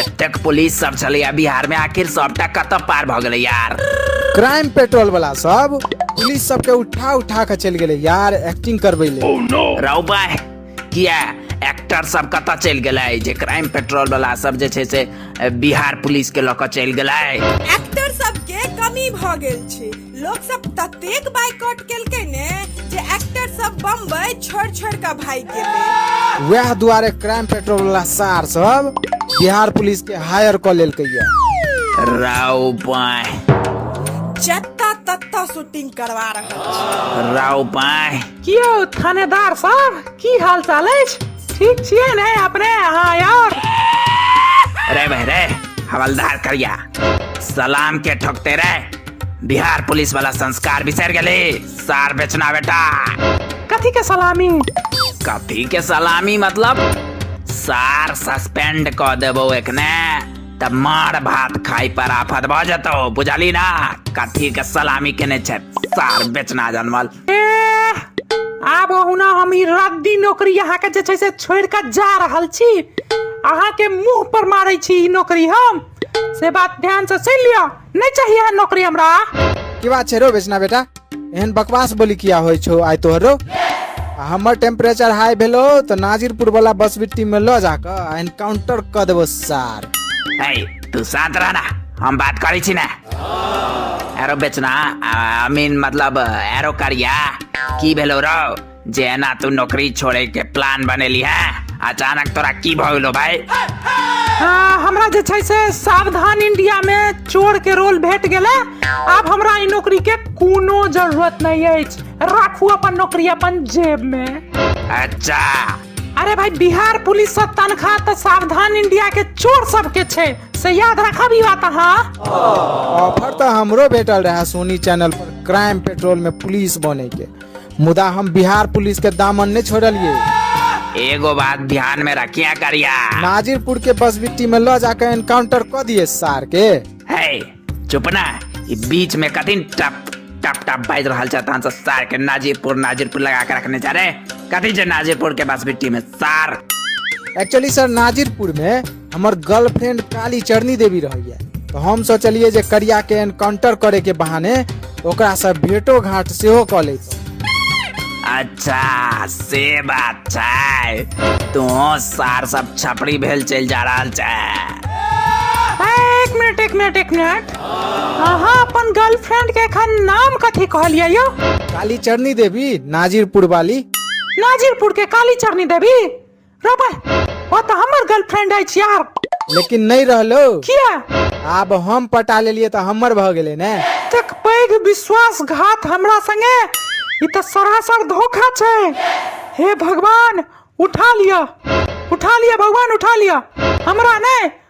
एतेक पुलिस सब छलैया बिहार में आखिर सबटा कतऽ पार भऽ गेलै यार क्राइम पेट्रोल वाला सब पुलिस सबके उठा उठा के चल गेले यार एक्टिंग करबे ले रौ बाय किया एक्टर सब कतऽ चल गेलै जे क्राइम पेट्रोल वाला सब जे छै से बिहार पुलिस के लऽ कऽ चल गेलै एक्टर सबके कमी भऽ गेल छै लोग सब ततेक बाइकआउट केलकै ने जे एक्टर सब बम्बई छोड़ छोड़ के भाग गेलै वएह दुआरे क्राइम पेट्रोल वाला सार सब बिहार पुलिस के हायर कऽ लेलकै ये राव पाय जत्ता तत्ता शूटिंग करवा रहल राव पाय की यौ थानेदार साहब की हाल चाल अछि ठीक छियै ने अपने अहाँ यार रे भाई रे हवलदार करिया सलाम के ठोकते रे बिहार पुलिस वाला संस्कार बिसर गले सार बेचना बेटा कथी के सलामी कथी के सलामी मतलब सार सस्पेंड क देबो एकने तब मार भात खाई पर आफत भ जतो बुझली ना कथी के सलामी केने छै सार बेचना जनमल आब ओहुना हम ई रद्दी नौकरी अहाँके जे छै से छोड़ कऽ जा रहल छी अहाँके मुंह पर मारै छी ई नौकरी हम से बात ध्यान से सुन लियो नहीं चाहिए है नौकरी हमरा की बात छै रो बेचना बेटा एहन बकवास बोली किया होइ छौ आइ तोहर रो आ हमर टेम्परेचर हाई भेलो तऽ नाजिरपुर वाला बस बिट्टी में लऽ जाकऽ आ एनकाउंटर कऽ देबो सार है तू शांत रहना हम बात करै छी ने एरो बेचना आई मीन मतलब एरो करिया की भेलो रौ जे एना तू नौकरी छोड़े के प्लान बनेली है अचानक तोरा की भइलो भाई आ, हमरा जे छै से सावधान इंडिया में चोर के रोल भेट गेलै आब हमरा ई नौकरी के कोनो जरूरत नहीं अछि राखू अपन नौकरी अपन जेब में अच्छा अरे भाई बिहार पुलिस से तनख्वाह तो सावधान इंडिया के चोर सब के छे से याद रखब ई बात हाँ ऑफर तो हमरो भेटल रहा सोनी चैनल पर क्राइम पेट्रोल में पुलिस बने के मुदा हम बिहार पुलिस के दामन नहीं छोड़लिए एगो बात ध्यान में रखिया करिया नाजिरपुर के बसबिट्टी में ल जाकर एनकाउंटर कर दिए सार के है चुप ना ई बीच में कथिन टप टप टप बाज रहल छै तहन से सार के नाजीरपुर नाजीरपुर लगा के रखने जा रे कथी छै नाजीरपुर के बस बिट्टी में सार एक्चुअली सर नाजिरपुर में हमर गर्लफ्रेंड काली चरनी देवी रही है तो हम सोचलिए जे करिया के एनकाउंटर करे के बहाने ओकरासँ भेटो घाट सेहो कऽ लैतहुँ अच्छा से बात छै तू सार सब छपड़ी भेल चल जा रहा छै एक मिनट एक मिनट एक मिनट अहाँ अपन गर्लफ्रेंड के एखन नाम कथी कहलियै यो काली चरनी देवी नाजिरपुर वाली नाजिरपुर के काली चरनी देवी रे भाई ओ तो हमर गर्लफ्रेंड है यार लेकिन नहीं रहलो किया आब हम पटा लेलिए तो हमर भ गेले ने तक पैघ विश्वासघात हमरा संगे ई तो सरासर धोखा छै हे भगवान उठा लिया उठा लिया भगवान उठा लिया हमरा ने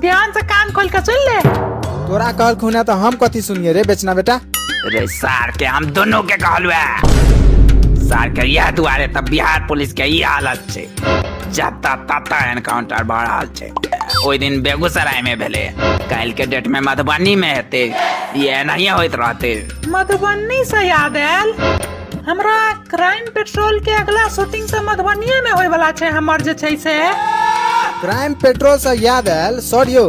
ध्यान से कान खोल के सुन ले तोरा कहल खुना तो हम कथी सुनिए रे बेचना बेटा रे सार के हम दोनों के कहलू है सार के यह दुआरे तब बिहार पुलिस के ई हालत छै जता तता एनकाउंटर भऽ रहल छै ओहि दिन बेगूसराय में भेले काल्हि के डेट में मधुबनी में हेते ये एनाहिए होइत रहते मधुबनी से याद आयल हमरा क्राइम पेट्रोल के अगला शूटिंग तऽ मधुबनिये में होय वाला छै हमर जे छै से क्राइम पेट्रोल से याद आयल सर यौ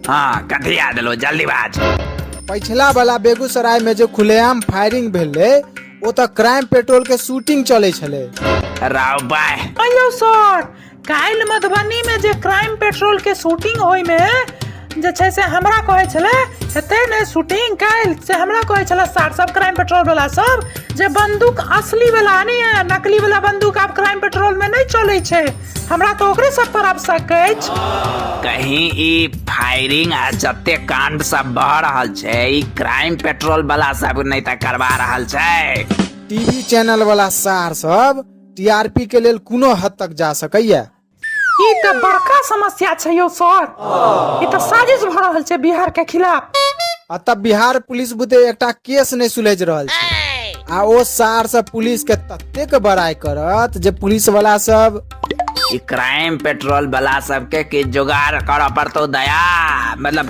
हाँ कथी याद लो जल्दी बाज पछिला वाला बेगूसराय में जे खुलेआम फायरिंग भेलै ओ तऽ क्राइम पेट्रोल के शूटिंग चलै छलै राव बाय अयो सर काल्हि मधुबनीमे जे क्राइम पेट्रोलके शूटिंग होइमे जे छै से हमरा कहै छलै हेतै ने शूटिंग काल्हि से हमरा कहै छलै सार सब क्राइम पेट्रोलवला सब जे बन्दूक असलीवला नहि यऽ नकलीवला बन्दूक आब क्राइम पेट्रोलमे नहि चलै छै हमरा तऽ ओकरे सब पर आब शक अछि कहीं ई फायरिंग आ जते कांड सब भऽ रहल छै ई क्राइम पेट्रोल वाला सब नहि तऽ करवा रहल छै टीवी चैनल वाला सार सब टीआरपी के लेल कोनो हद तक जा सकैया ई तऽ बड़का समस्या छै यौ सर ई तऽ साजिश भऽ रहल छै बिहार के खिलाफ आ तब बिहार पुलिस बुते एकटा केस नहि सुलझ रहल छै आ ओ सार सब पुलिस के ततेक बड़ाई करत जे पुलिस वाला सब ई क्राइम पेट्रोल वाला सबके की जुगाड़ करऽ पड़तौ दया मतलब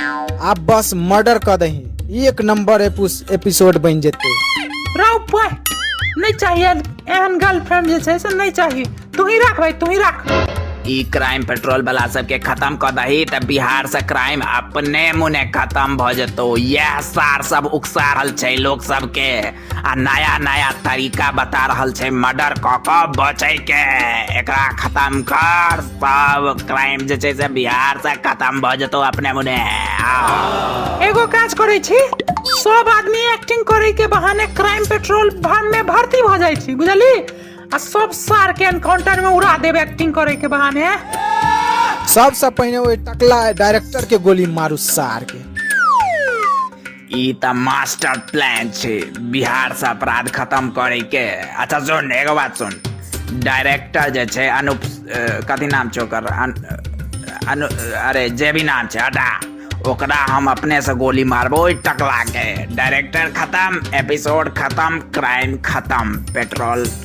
आ बस मर्डर क दही एक नंबर एपुस- एपिसोड बन जेते रौ पाय नहि चाहिए एहन गर्लफ्रेंड जे छै से नहि चाही तू ही राख भाई तू ही राख ई क्राइम पेट्रोल वाला सबके खत्म कऽ दही तऽ बिहार से क्राइम अपने मुने खत्म भऽ जेतौ यैह सार सब उकसा रहल छै लोक सबके आ नया नया तरीका बता रहल छै मर्डर कऽ कऽ बचै के एकरा खत्म कर सब क्राइम जे छै से बिहार से खत्म भऽ जेतौ अपने मुने आउ। एगो काज करै छी सब आदमी एक्टिंग करै के बहाने क्राइम पेट्रोल भर में भर्ती भ जाइ छी बुझली आ सब सार के एनकाउंटर में उड़ा देब एक्टिंग करै के बहाने सबसे पहिने ओहि टकला डायरेक्टर के गोली मारू सार के ई तऽ मास्टर प्लान छै बिहार से अपराध खत्म करे के अच्छा सुन एगो बात सुन डायरेक्टर जे छै अनुप कथी नाम छै ओकर अनु अरे जे भी नाम छै हटा ओकरा हम अपने से गोली मारबो ओहि टकला के डायरेक्टर खत्म एपिसोड खत्म क्राइम खत्म पेट्रोल